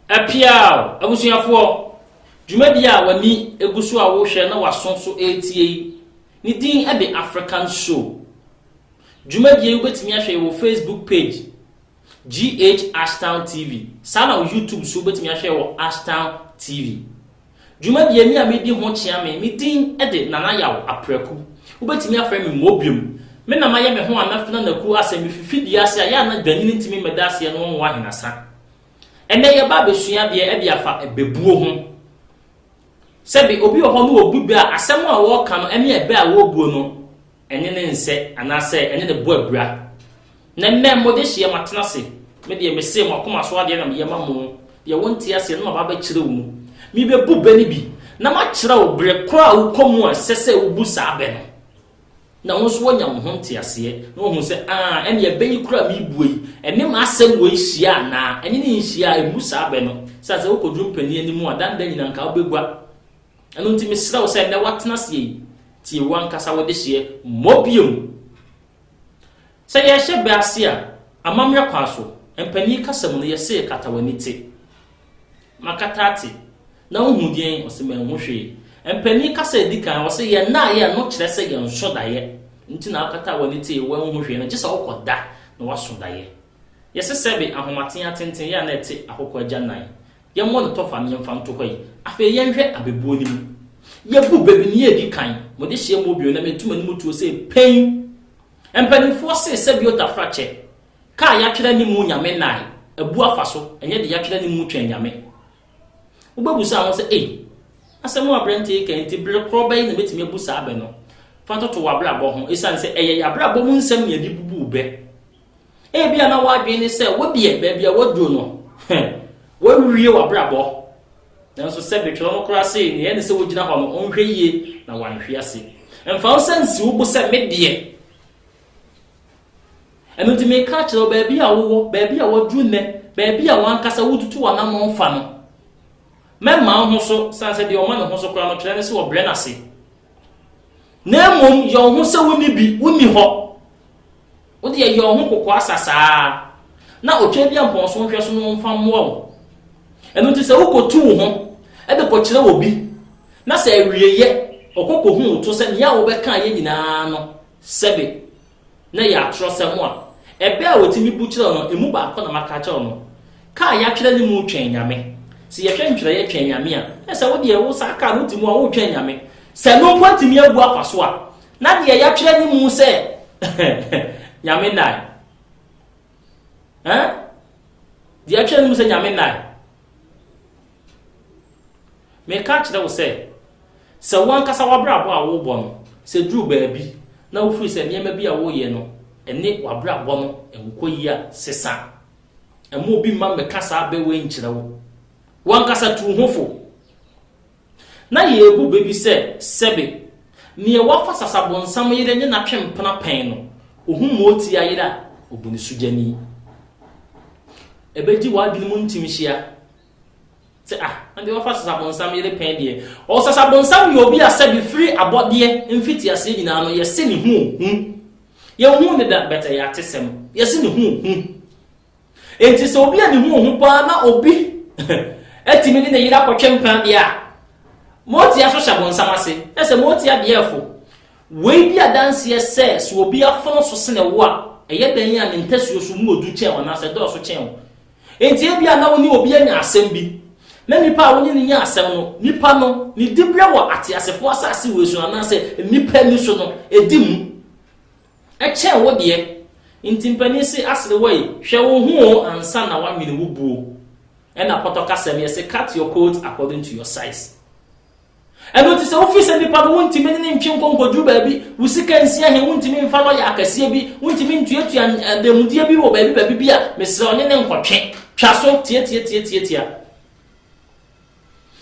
Apiaw! Abusuafoɔ, dwumadie a w'ani gu so a worehwɛ na w'aso nso retie yi, ne din de African Show. Dwumadie yi wobɛtumi ahwɛ yɛn wɔ Facebook page GH Ashtown TV, saa na wo YouTube nso wobɛtumi ahwɛ wɔ Ashtown TV. Dwumadie me a medi ho kyea me, me din de Nana Yaw Apraku. Wobɛtumi afrɛ me Mmobiom. Me na mayɛ me ho Anafin Anaku asɛ me fifi dua ase a yɛ a na dwanyini ntumi mmɛda aseɛ no nwowa ahenasa. Ɛnnɛ yɛba abɛsua adeɛ ɛde afa ɛbɛbuo ho. Sɛbe obi wɔ hɔ no ɔbu bɛ a asɛm a ɔɔka no ɛne ɛbɛ a ɔɔbuo no ɛne ne nsɛ anaasɛ ɛne ne bo abira. Na mmɛ mode hyeɛ matena ase, me deɛ mese mo akoma so adeɛ na meyɛ ma mo, deɛ wonte aseɛ no na maba abɛkyerɛ wo mu. Mebɛbu bɛ no bi, na makyerɛ wo berɛ korɔ a wokɔ mu a ɛsɛ sɛ wobu saa bɛ no, na wo nso woanya wo ho nteaseɛ, na woahu sɛ, aa, ɛnneɛ bɛ yi korɔ a merebue yi, ɛne m'asɛm wei hyia anaa ɛne no nhyia a, mmu saa bɛ no. Sɛ sɛ wokɔduru mpanin anim a, danda nyinaa anka wobɛgua. Ɛno nti mesrɛ wo sɛ nnɛ woatena aseɛ yi, tie w'ankasa wo dehyeɛ mmɔ bio. Sɛ yɛrehyɛ bɛ ase a, amammerɛ kwan so, mpanin kasa mu no yɛse kata w'ani te. Makata ate. Na wohu deɛn? Ɔse manhu hwee. Mpanin kasa a ɛdi kan, ɔse yɛn naeɛ no kyerɛ sɛ yɛn nso daeɛ. Nti na wokata w'ani te, woanhu hwee no, gye sɛ wokɔ da na woaso daeɛ. Yɛse sɛbe ahomaten atenten yɛ a na ɛte akokɔ agya nan. Yɛmmɔ no tɔfa na yɛmfa nto hɔ yi. Afei yɛnhwɛ abɛbuo no mu. Yɛbu baabi nea ɛdi kan. Mode hyeɛ mmɔ bio na metu m'anim tuo sɛ pɛn. Mpanimfoɔ se sɛ biota fra kyɛ. Ka a yɛatwerɛ anim mu Nyame nnae, abu afa so, ɛnyɛ deɛ yɛatwerɛ anim mu Twɛn Nyame. Wobɛbusa wo ho sɛ, Ei! Asɛm a aberɛnte yi reka yi nti, bere korɔ bɛn na mɛtumi abu saa bɛ no? Fa toto w'abrabɔ ho, ɛsiane sɛ ɛyɛ yɛn abrabɔ mu nsɛm na yɛde bubu bɛ. Ebia na w'adwene ne sɛ wodeɛ baabi a waduro no, wawie w'abrabɔ. Nanso sɛ betwerɛ no koraa se nea ɛne sɛ wogyina hɔ no ɔnhwɛ yie na wanhwe ase. Mfa wo nsa nsi wo bo sɛ medeɛ. Ɛno nti meka akyerɛ wo baabi a wowɔ, baabi a waduro nnɛ, baabi a wankasa wotutu w'anamɔn fa no, mɛma wo ho so, sane sɛ deɛ ɔma ne ho so koraa no kyerɛ ne sɛ ɔbrɛ n'ase. Na mmom yɛ wo ho sɛ wonni bi, wonni hɔ. Wo deɛ yɛ wo ho kokoa sa saa na Otwaadiampɔn so nhwɛso no mfa mmoa wo. Ɛno nti sɛ wokɔtu wo ho de kɔkyerɛ obi na sɛ awieeɛ ɔkɔ kɔhu wo to sɛ nea wobɛkaeɛ nyinaa no sɛbe na ɛyɛ atorɔsɛm a, ɛbɛ a wɔtumi bu kyerɛ wo no, ɛmu baako na maka akyerɛ wo no. Ka a yɛatwerɛ ne mu Twɛn Nyame. Sɛ yɛhwɛ ntwerɛeɛ Twɛn Nyame a, na sɛ wo deɛ wo saa ka no wote mu a woretwɛn Nyame. Sɛ ɛno mpo antumi abu akwa so a, Na deɛ yɛatwerɛ no mu sɛ, Nyame nnae. Eh? Deɛ yɛatwerɛ no mu sɛ Nyame nnae. Meka kyerɛ wo sɛ, sɛ wo ankasa w'abrabɔ a wobɔ no, sɛ duru baabi na wofiri sɛ nneɛma bi a woyɛ no ne w'abrabɔ no nkɔ yi a, sesa. Ɛma obi mma mmɛka saa bɛ wei nkyerɛ wo. Wo ankasa tu wo ho fo. Na yeebu bɛ bi sɛ, Sɛbe, neɛ wafa sasabonsam yere ne n'atwempena pɛn no, ohu mootia yere a, obu no sogyani. Ɛbɛgye w'adwene mu ntimhyia sɛ, Ah, na deɛ wafa sasabonsam yere pɛn deɛ, ɔɔ sasabonsam yɛ obi a sɛbe firi abɔdeɛ mfitiaseɛ nyinaa no yɛse ne ho hu. Yɛnhuu no da, but ɛyɛ atesɛm. Yɛse ne ho hu. Enti sɛ obi a ne ho hu paa na obi atumi ne ne yere akɔtwe mpena deɛ a, motia so hyɛ bonsam ase. Ɛ sɛ motia deɛfo. Wei di adanseɛ sɛ sɛ obi afono so sene wo a, ɛyɛ dɛn a ne ntasuo so mu wɔ du kyɛn wo anaasɛ ɛdɔɔso kyɛn wo. Enti ebia na wo ne obi anya asɛm bi, na nipa a wo ne no nya asɛm no, nipa no, ne diberɛ wɔ ateasefoɔ asase wei so no anaasɛ nnipa ani so no, ɛdi mu. Ɛkyɛɛ wo deɛ nti mpanin se aserewai hwɛ wo ho o ansa na wanwene wo buo ɛna pɔtɔ kasɛm yɛse cut your coat according to your size ɛno nti sɛ wofi sɛ nipa no wontimi ne ne ntwe nkɔ nkɔduru baabi wo sika nsia he wontimi mfa lɔya akɛseɛ bi wontimi ntuatua adanmudeɛ bi wɔ baabi baabi bi a mesrɛ ɔne ne nkɔtwe twa so tiatiatiatiatia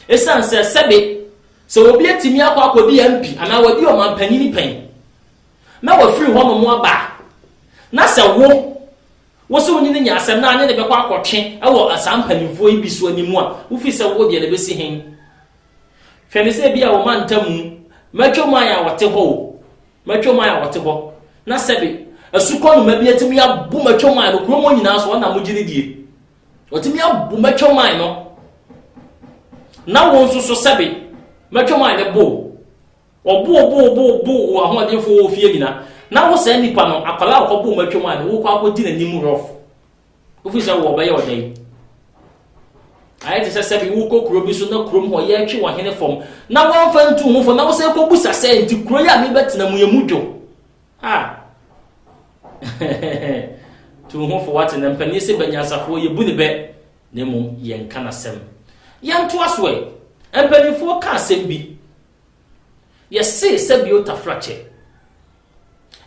ɛsiane sɛ sɛbe sɛ obi atumi akɔ akɔdi MP anaa wadi ɔmampanyini pɛn na wafiri hɔnom aba a, na sɛ wo, wo se wo ne no nya asɛm na anye no bɛkɔ akɔtwe wɔ saa mpanimfoɔ yi bi so anim a, wofiri sɛ wo deɛ no bɛsi he? Hwɛ no sɛ ebia wo mantamu, mɛtwa mu ayɛ a wɔte hɔ o, mɛtwa mu ayɛ a wɔte hɔ, na sɛbe asukɔnoma bi atumi abu mɛtwa mu ayɛ no kurom hɔ nyinaa so, ɔna mogye no die. Ɔtumi abu mɛtwa mu ayɛ no, na wo nso so sɛbe mɛtwa mu ayɛ no bo. Wɔbooboobooboo wo ahoɔdenfoɔ wɔ fie nyina, na wo saa nipa no, akwadaa a ɔkɔboo mu atwam a ne wokɔ akɔdi n'anim rough, wofiri sɛ wɔbɛyɛ wo dɛn? Ayɛ te sɛ sɛbi wokɔ kuro bi so na kurom hɔ yɛretwe ɔhene fam na wɔmfa ntu ho fo na wo sɛ kɔbusa sɛ nti kuro yi a mebɛtena mu yɛ mu dwo a tu ho fo wate na mpanin se banyansafoɔ yɛbu ne bɛ na mmom yɛnka n'asɛm yɛntoa so ɛ mpanimfoɔ ka asɛm bi Yɛse sɛ bio Tafra kyɛ.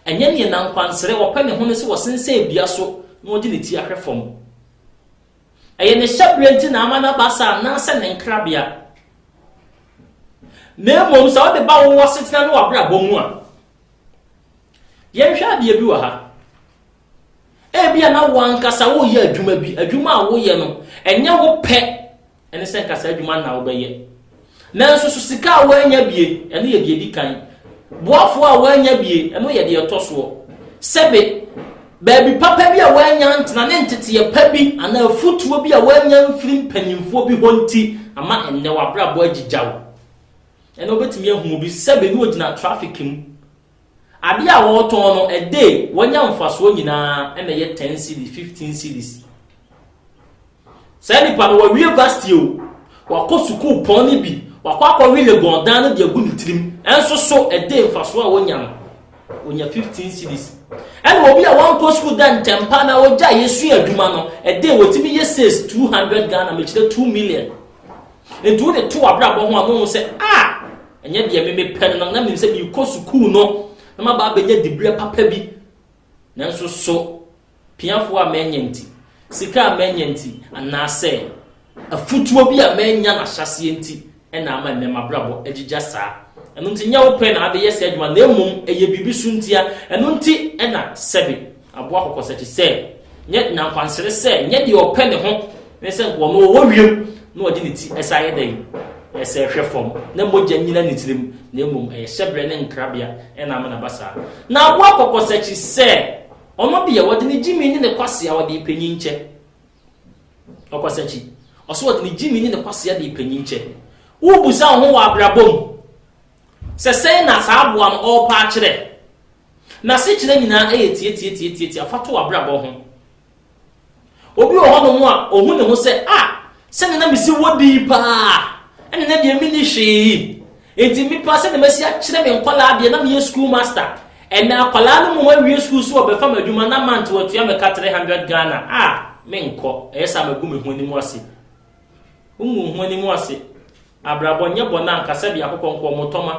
Ɛnyɛ neɛ na nkwansrɛ ɔpɛ ne ho ne sɛ ɔsensɛn dua so na ɔde ne ti ahwɛ fam. Ɛyɛ ne hyɛberɛ nti na ama no aba saa anaasɛ ne nkrabea? Na mmom sɛ wode ba wo asetena ne w'abrabɔ mu a, yɛnhwɛ adeɛ bi wɔ ha. Ebia na wo ankasa woyɛ adwuma bi, adwuma a woyɛ no, ɛnyɛ wo pɛ ɛne sɛ nka saa adwuma no na wobɛyɛ. Nanso so sika a woanya bie, ɛno yɛ deɛ ɛdi kan. Boafoɔ a woanya bie, ɛno yɛ deɛ ɛtɔ soɔ. Sɛbe baabi papa bi a woanya ntena ne nteteɛ pa bi anaa afotuo bi a woanya mfiri mpanimfoɔ bi hɔ nti ama ɛnnɛ w'abrabɔ agyigyaw. Ɛnna wobɛtumi ahunu bi sɛbe ne ɔgyina trafik mu. Adeɛ a wɔretɔn no, ɛde wɔanya mfasoɔ nyinaa ɛna ɛyɛ 10 cities, 15 cities. Saa nipa no, wawie Vasti o, wakɔ sukuu pɔn no bi, wakɔ akɔwe Legon dan no de agu ne tirim, nso so ɛde mfasoɔ a ɔnya no, ɔnya 15 cedis. Ɛna obi a wankɔ sukuu da ntɛmpa na ɔgya yɛsua adwuma no, ɛde ɔtumi yɛ sales 200 Ghana, mekyerɛ 2 million. Nti wode to abrabɔ ho a na ɔhu sɛ, ah, ɛnyɛ deɛ me mepɛ no, na na menim sɛ merekɔ sukuu no, na maba abɛnya diberɛ papa bi, nanso so piafoɔ a manya nti, sika a manya nti, anaasɛ afutuo bi a manya no ahyɛaseɛ nti na ama ɛnnɛ m'abrabɔ agyigya saa. Ɛno nti, nyɛ wo pɛ na abɛyɛ saa adwuma na mmom ɛyɛ biribi so ntia. Ɛno nti na Sɛbe aboa Kɔkɔsakyi sɛ, Nyɛ nankwansere sɛ nyɛ deɛ ɔpɛ ne ho ne sɛ nka ɔno ɔwɔ wiem na ɔde ne ti san yɛ dɛn? Ɛsɛ hwɛ fam na mogya nyina ne tirim na mmom ɛyɛ hyɛberɛ ne nkrabea na ama no aba saa. Na aboa Kɔkɔsakyi sɛ, Ɔno deɛ wɔde ne gyimi ne ne kwasea wɔde repanyin kyɛ. Ɔkwasakyi. Ɔso wɔde ne gyimi ne ne kwasea de repanyin kyɛ. Wobisa wo ho wɔ abrabɔ mu sɛ sɛn na saa aboa no ɔrepa akyerɛ. N'asekyerɛ nyinaa yɛ tiatiatiatiatia fa to w'abrabɔ ho. Obi wɔ hɔnom a, ohu ne ho sɛ, 'Ah, sɛnea na misi wɔ din paa, ɛnna nnɛ deɛ minni hwee yi. Enti mepɛ sɛnea masi akyerɛ me nkwadaa deɛ na meyɛ sukuu master. Ɛnna akwadaa no mu awie sukuu so wɔbɛfa me adwuma na month wɔatua me ka three hundred Ghana. Ah, menkɔ. Ɛyɛ sɛ a magu me ho anim ase. Wongu ho anim ase. Abrabɔ nyɛ bɔn a nka sɛbea akokɔ nkoɔ mo tɔma.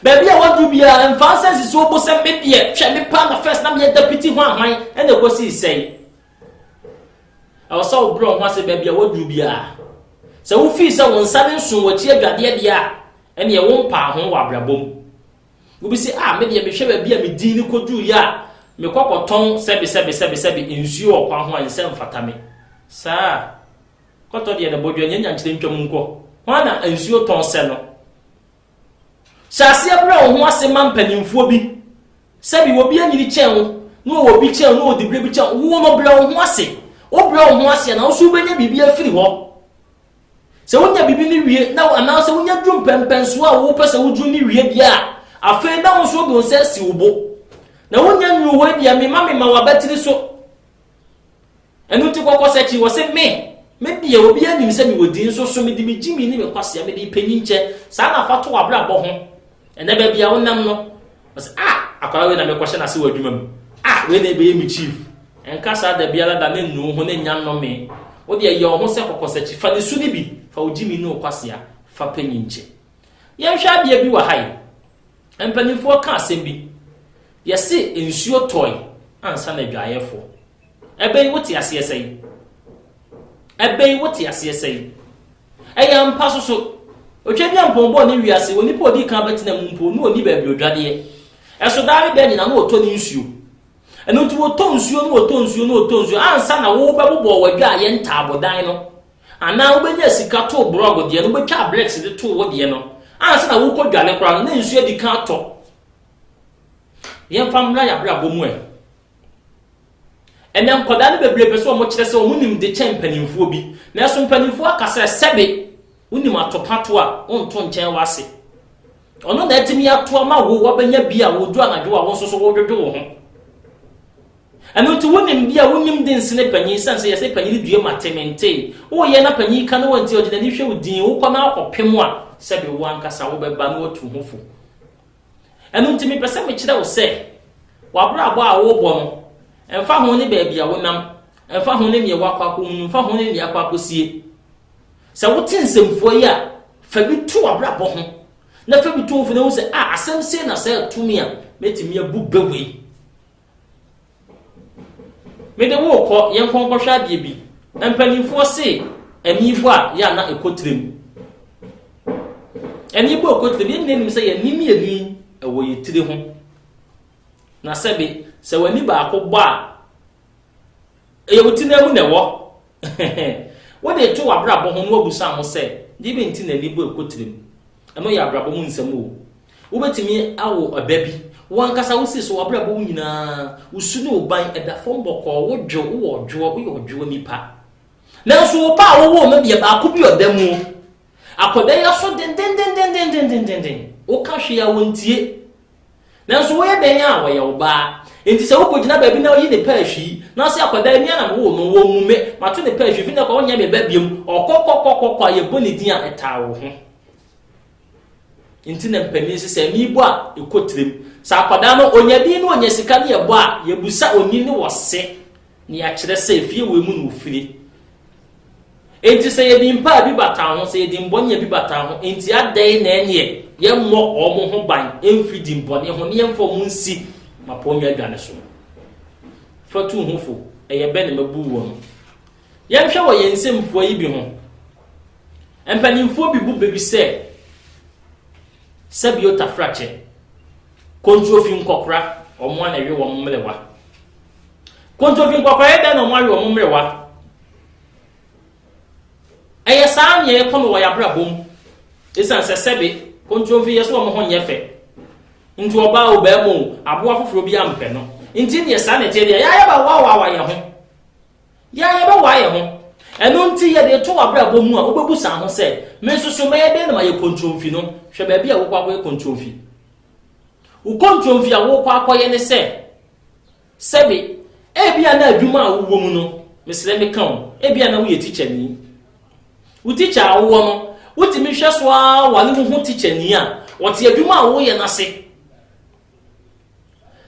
Baabi a waduru biara mfa nsa nsisi wo bo sɛ me deɛ hwɛ me paa na first na meyɛ dapiti ho ahwan ɛna ɛkɔsii sɛe. Ɛwɔ sɛ wobrɛ wo ho ase baabi a waduru biara. Sɛ wofii sɛ wo nsa no nso w'akyi adwadeɛ deɛ a ɛneɛ wompaa ho wɔ abrabɔ mu. Obi se, ah, me deɛ mehwɛ baabi a me din no kɔduruiɛ a, mekɔ kɔtɔn sɛbe sɛbe sɛbe sɛbe nsuo wɔ kwan ho a ɛnsɛ mfata me. Saa. Kɔtɔ deɛ ne bɔdwɛ nyɛ nyankyerɛ ntwam nkɔ. Hwan na nsuo tɔn sɛ no? Hyɛ aseɛ brɛ wo ho ase ma mpanimfoɔ bi. Sɛbi obi anyini kyɛn wo, na ɔwɔ bi kyɛn wo, na ɔwɔ diberɛ bi kyɛn wo. Wo no brɛ wo ho ase. Wobrɛ wo ho ase a, na wo nso wobɛnya biribi afiri hɔ. Sɛ wonya biribi no wie na anaasɛ wonya duru mpɛmpɛnsoɔ a wopɛ sɛ woduru no wie deɛ a, afei na wo nso wode wo nsa asi wo bo. Na wonya nnuru hɔ deɛ mema mema w'abatiri so. Ɛno nti kɔkɔsɛkyi wɔ se me, me deɛ obi anim sɛ mewɔ din nso so mede me gyimi ne me kwasea mede panyinkyɛ saa na fa to w'abrabɔ ho ɛnɛ baabi a wonam no. Ɔsɛ ah akwadaa wei na mekɔ hyɛ n'ase wɔ adwuma mu ah wei na ebɛyɛ mi chief nka saa da biara da ne nnu ho ne nya nnome wo deɛ yɛ ɔho sɛ kɔkɔsakyi fa ne su ne bi fa wo gyimi ne wo kwasea fa panyin kyɛ yɛnhwɛ adeɛ bi wɔ ha yi mpanimfoɔ ka asɛm bi yɛse nsuo tɔe ansa na adwaeɛfoɔ Ɛbɛyi wo te aseɛ sɛn? Ɛbɛyi wo te aseɛ sɛn? Ɛyɛ ampa so so. Otwabiampɔn bɔɔ ne wiase, onipa a ɔdii kan bɛtenaa mu mpo, na ɔnni baabi odwadeɛ. Ɛso daa ne da nyinaa na ɔtɔ ne nsuo. Ɛno nti ɔtɔ nsuo na ɔtɔ nsuo na ɔtɔ nsuo ansa na wobɛbobɔ w'adwaeɛ ntaabodan no, anaa wobɛnya sika too brɔg deɛ no, wobɛtwaa bricks de too wo deɛ no, ansa na worekɔdware koraa no, na nsuo adi kan atɔ. Yɛmfa mmra yɛn abrabɔ mu ɛ. Ɛnnɛ, nkwadaa no bebree pɛ sɛ wɔkyerɛ sɛ wɔn nim de kyɛn mpanimfoɔ bi. Nanso mpanimfoɔ aka sɛ, Sɛbe wonim atopato a, wonto nkyɛn w'ase. Ɔno na atumi ato ama wo, wabɛnya bi a wodwo anadwo a wo nso so wodwodwo wo ho. Ɛno nti wonim bi a wonim de nsene panyin sɛn sɛ yɛsɛ panyin due ma te mentee. Woyɛ na panyin ka ne wɔ nti ɔde n'ani hwɛ wo dinn, wokɔ na akɔpem a, sɛbe wo ankasa wobɛba na watu ho fo. Ɛno nti mepɛ sɛ mekyerɛ wo sɛ, w'abrabɔ a worebɔ no, ɛmfa ho ne baabi a wonam, ɛmfa ho ne nea woakɔ akɔhunu, ɛmfa ho ne nea akɔ akɔsie. Sɛ wote nsɛmfua yi a, fa bi to w'abrabɔ ho, na fa bi to wo mfoni ho sɛ, a, asɛm sei na saa tumi a mɛtumi abu bɛ wei. Mede wo rekɔ, yɛnkɔ nkɔhwɛ adeɛ bi. Mpanimfoɔ se ani bɔ a yɛ a na ɛkɔ tire mu. Ani bɔ ɛkɔ tire mu, yɛn nyinaa nim sɛ yɛn ani mmienu yi ɛwɔ yɛn tiri ho. Na sɛbe, sɛ w'ani baako bɔ a, Ɛyɛ wo tena mu na ɛwɔ. Wode reto w'abrabɔ ho na woabisa ho sɛ, Deɛ bɛn nti na ani bɔ ɛkɔ tirim? Ɛno yɛ abrabɔ mu nsɛm o. Wobɛtumi awo ɛba bi. Wo ankasa wosi so w'abrabɔ mu nyinaa. Wo su ne wo ban ɛda fam bɔkɔɔ. Wodwo, wowɔ ɔdwoɔ, woyɛ ɔdwoɔ nipa. Nanso wo pɛ a wowoo no deɛ, baako bi ɔda mu o. Akwadaa yi aso dendendenn. Woka hwee a wɔntie. Nanso woyɛ dɛn a ɔyɛ wo ba? Enti sɛ wokogyina baabi na oyi ne pɛɛ hwii, na ɔse akwadaa yi me ara na mewoo no, wɔmmu me, mato ne pɛɛ hwii, fi nnɛ kɔ wonyɛ me ba biom, ɔkɔkɔkɔkɔkɔ a yɛbɔ ne din a ɛtaa wo ho. Enti na mpanin se sɛ mebɔ a ɛkɔ tirim. Sɛ akwadaa no onya din na onya sika na yɛbɔ a, yɛbisa onii ne ɔse na yɛakyerɛ sɛ fie wei mu na ofiri. Enti sɛ yɛde mpa a ebi bata ho, sɛ yɛde mbɔne a ebi bata ho, enti adɛn na ɛneɛ yɛmmɔ wɔn ho ban mfiri dimmɔne ho, na yɛmfa wɔn nsi mmapɔnnwa adwa no so? Fa tu ho fo, ɛyɛ bɛ na mabu wɔn? Yɛnhwɛ wɔ yɛn nsɛm fua yi bi ho. Mpanimfoɔ bi bu bɛ bi sɛ sɛbio tafrakyɛ, kontrofi nkɔkora, wɔn a na ɛwe wɔn mmerewa. Kontomfi nkwakoraeɛ dɛn na wɔn awe wɔn mmerewa? Ɛyɛ saa nea ɛkɔ no wɔ yɛn abrabɔ mu. Esiane sɛ sɛbe kontomfi yɛ sɛ wɔn ho nyɛ fɛ nti, ɔbaa o, barima o, aboa foforɔ bi ampɛ no nti deɛ saa na ɛteɛ deɛ, yɛn ara yɛbɛwawaawa yɛn ho. Yɛn ara yɛbɛwaa yɛn ho. Ɛno nti, yɛde reto w'abrabɔ mu a, wobɛbu saa ho sɛ, Me nso so mɛyɛ dɛn na mayɛ kontomfi no? Hwɛ baabi a wokɔ akɔyɛ kontomfi. Wo kontomfi a worekɔ akɔyɛ ne sɛ, Sɛbe, ebia na adwuma a wowɔ mu no, mesrɛ meka o, ebia na woyɛ tikyani. Wo tikya a wowɔ no, wotumi hwɛ so ara ware wo ho tikyani a ɔte adwuma a woreyɛ no ase.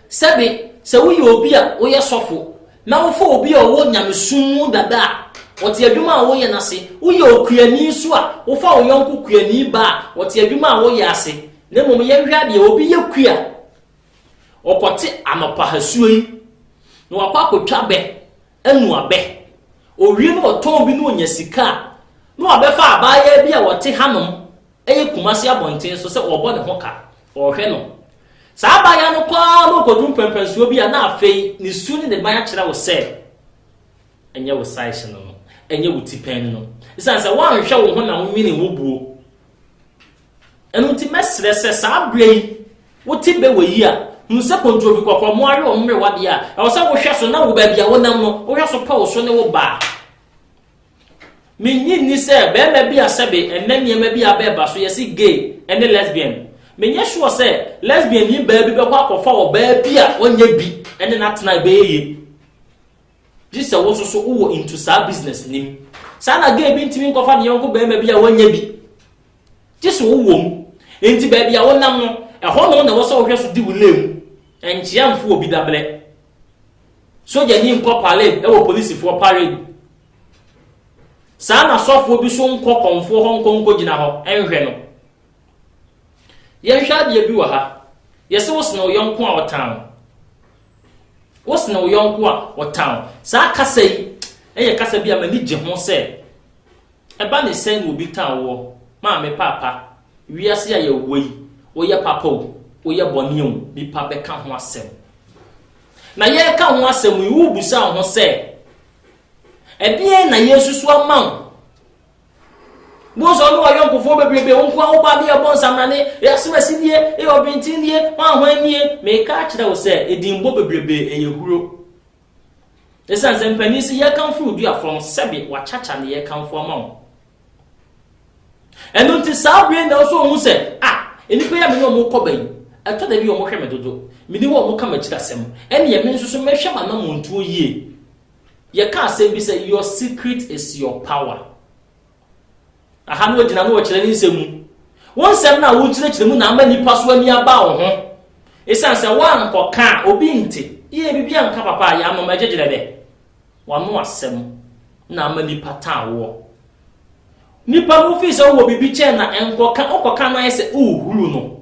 Sɛbe, sɛ woyɛ obi a woyɛ sɔfo na wofa obi a ɔwɔ nyamesom mu dada a ɔte adwuma a woreyɛ no ase. Woyɛ okuani nso a, wofa wo yɔnko kuani ba a ɔte adwuma a woreyɛ ase. Na mmom yɛnhwɛ adeɛ, obi yɛ kua Ɔkɔte anɔpa hasuo yi na wakɔ akɔtwa bɛ anu abɛ. Owie na ɔtɔn bi na ɔnya sika a, na wabɛfa abaayaa bi a ɔte hanom, ɛyɛ Kumasi abɔnten so sɛ ɔrebɔ ne ho ka, ɔrehwɛ no. Saa abaayaa no kɔ ara na ɔkɔduru mpɛnpɛnsoɔ bi a na afei ne su ne ne ban akyerɛ wo sɛ ɛnyɛ wo size no no, ɛnyɛ wo tipɛn no no. Esiane sɛ woanhwɛ wo ho na wonwene wo buo. Ɛno nti mɛsrɛ sɛ saa berɛ yi wote bɛ wɔ yi a, hunu sɛ kontrobi kɔkɔɔ mo awe wɔn mmerewa deɛ a, ɛwɔ sɛ wohwɛ so na wo baabi a wonam no, wohwɛ so pɛ wo so ne wo ba. Mennye nni sɛ barima bi a sɛbe ɛnnɛ nneɛma bi a bɛɛba so yɛse gay ne lesbian, menyɛ sure sɛ lesbian ni baa bi bɛkɔ akɔfa ɔbaa bi a ɔnyɛ bi ne no atena a ɛbɛyɛ yie. Gye sɛ wo nso so wowɔ into saa business nim. Saa na gay bi ntumi nkɔfa ne yɔnko barima bi a wanya bi. Gye sɛ ɔwɔ mu. Enti baabi a wonam no, ɛhɔ nom na ɛwɔ sɛ wohwɛ so di wo lane mu. Nkyea mfo obi dabrɛ. Sogyani nkɔ parade wɔ polisifoɔ parade mu. Saa na sɔfoɔ bi so nkɔ kɔmfoɔ hɔ nkɔ nkɔgyina hɔ nhwɛ no. Yɛnhwɛ adeɛ bi wɔ ha. Yɛse wo sene wo yɔnko a ɔtan wo. Wo sene wo yɔnko a ɔtan wo. Saa kasa yi yɛ kasa bi a m'ani gye ho sɛ ɛba ne sɛn na obi tan woɔ. Maame, paapa, wiase a yɛwɔ yi, woyɛ papa o, woyɛ bɔne o, nnipa bɛka ho asɛm. Na yɛreka ho asɛm yi, worebisa wo ho sɛ, ɛdeɛn na yɛasusu ama wo? Bohu sɛ ɔne wayɔnkofoɔ bebrebe, wo nkoa wo ba bɛyɛ bɔ nsamrane, ɛyɛ asomasi nie, ɛyɛ ɔbenten nie, hwan hwan nie. Meka akyerɛ wo sɛ, edinbɔ bebrebe ɛyɛ huro. Ɛsiane sɛ mpanin si yɛkamfo wo dua fam sɛbe wakyakya ne yɛkamfo ama wo. Ɛno nti saa bere na ɔsɔ ɔhu sɛ, ah, nnipa yi a me ne wɔn kɔba yi, ɛtɔ da bi wɔhwɛ me dodo, meni hɔ a wɔka m'akyiri asɛm, ɛneɛ me nso so mɛhwɛ m'anammɔntuo yie. Yɛka asɛm bi sɛ your secret is your power. Aha no wɔgyina no wɔkyerɛ ne nsɛm mu. Wo nsɛm no a wokyerɛkyerɛ mu na ama nnipa so ani aba wo ho. Esiane sɛ woankɔka a, obi nte. Yɛ biribi anka papa a, yɛanom agyegyerɛ dɛ. W'ano asɛm na ama nnipa tan woɔ. Nnipa no fii sɛ wowɔ biribi kyɛn na nkɔka, wokɔka no ayɛ sɛ worehuruw no.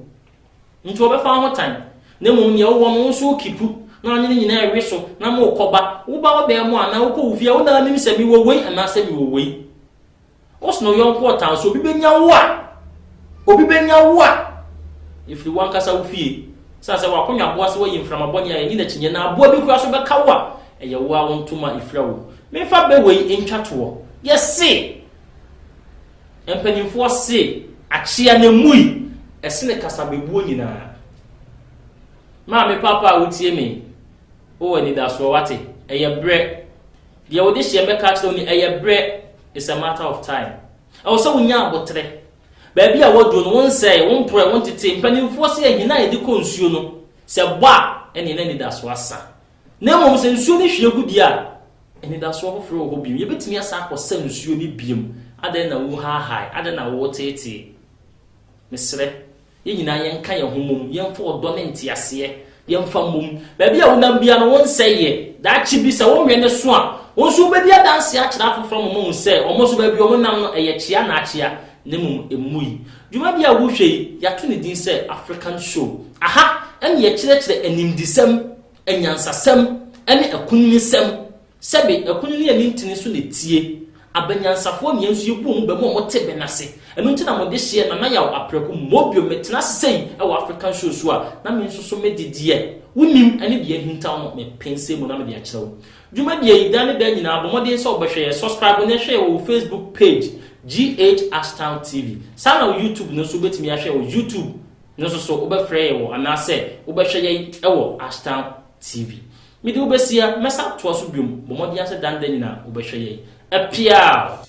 Nti wɔbɛfa wo ho tan, na mmom nea wowɔ no wo nso wokipu, na ɔne no nyinaa rewe so, na morekɔba. Woba wo dan mu anaa wokɔ wo fie a, wo na wonim sɛ mewɔ wei anaasɛ mewɔ wei. Wose na wo yɔnko ɔtan so, obi bɛnya wo a, obi bɛnya wo a, ɛfiri w'ankasa wo fie. Esiane sɛ w'akonnwa boa sɛ woayi mframa bɔne a ɛnni n'akyinnyeɛ na aboa bi koraa so bɛka wo a, ɛyɛ wo ara wo ntoma fira wom. Memfa bɛ wei ntwa toɔ. Yɛse! Mpanyimfoɔ se akyea no amui ɛsene kasabebuo nyinaa. Maame paapa a wotie me yi, wowɔ anidasoɔ wate, ɛyɛ berɛ. Deɛ wode hyeɛ mɛka akyerɛ wo ni, ɛyɛ berɛ, it's a matter of time. Ɛwɔ sɛ wonya aboterɛ. Baabi a woaduro no, wonsɛe, womporɔe, wontete. Mpanyimfoɔ se ahina a yɛde kɔ nsuo no, sɛ ɛbɔ a, ɛneɛ na anidasoɔ asa. Na mmom sɛ nsuo no hwie gu deɛ a, anidasoɔ foforɔ wɔ hɔ bio. Yɛbɛtumi asan akɔsa nsuo no biom. Adɛn na wohaahae? Adɛn na woteetee? Mesrɛ, yɛn nyinaa yɛnka yɛn ho mmom. Yɛmfa ɔdɔ ne nteaseɛ, yɛmfa mmom. Baabi a wonam biara no, wonsɛe yɛ. Daakye bi, sɛ wonwɛn no so a, wo nso wobɛdi adanseɛ akyerɛ afoforɔ ama wɔahu sɛ wɔn nso baabi a wɔnam no, ɛyɛ kyea anaa akyea. Na mmom mmui. Dwumadi a wohwɛ yi, yɛato ne din sɛ African Show. Aha na yɛkyerɛkyerɛ animdesɛm, anyansasɛm ne akunininsɛm. Sɛbe, akunini ani ntene so na etie. Abanyansafoɔ nea nso yɛbu wɔn bɛ mu a wɔte bɛ no ase. Ɛno nti na mo dehyeɛ, Nana Yaw Apraku, Mobio, metena ase sei wɔ African Show so a, na me nso so me de deɛ wonim ne deɛ ahintaw no, mepensɛɛ mu na mede akyerɛ wo. Dwumadie yi da ne da nyinaa bɔ mmɔden sɛ wobɛhwɛ yɛ, subscribe na hwɛ yɛ wɔ wo Facebook page GH Ashtown TV. Saa na wɔ YouTube no nso wobɛtumi ahwɛ yɛ wɔ YouTube no nso so wobɛfrɛ yɛ wɔ anaasɛ wobɛhwɛ yɛn wɔ Ashtown TV. Mede wo bɛsia, mɛsan atoa so biom, bɔ mmɔden ara sɛ da ne da nyinaa wobɛhwɛ yɛn. Apiaaw!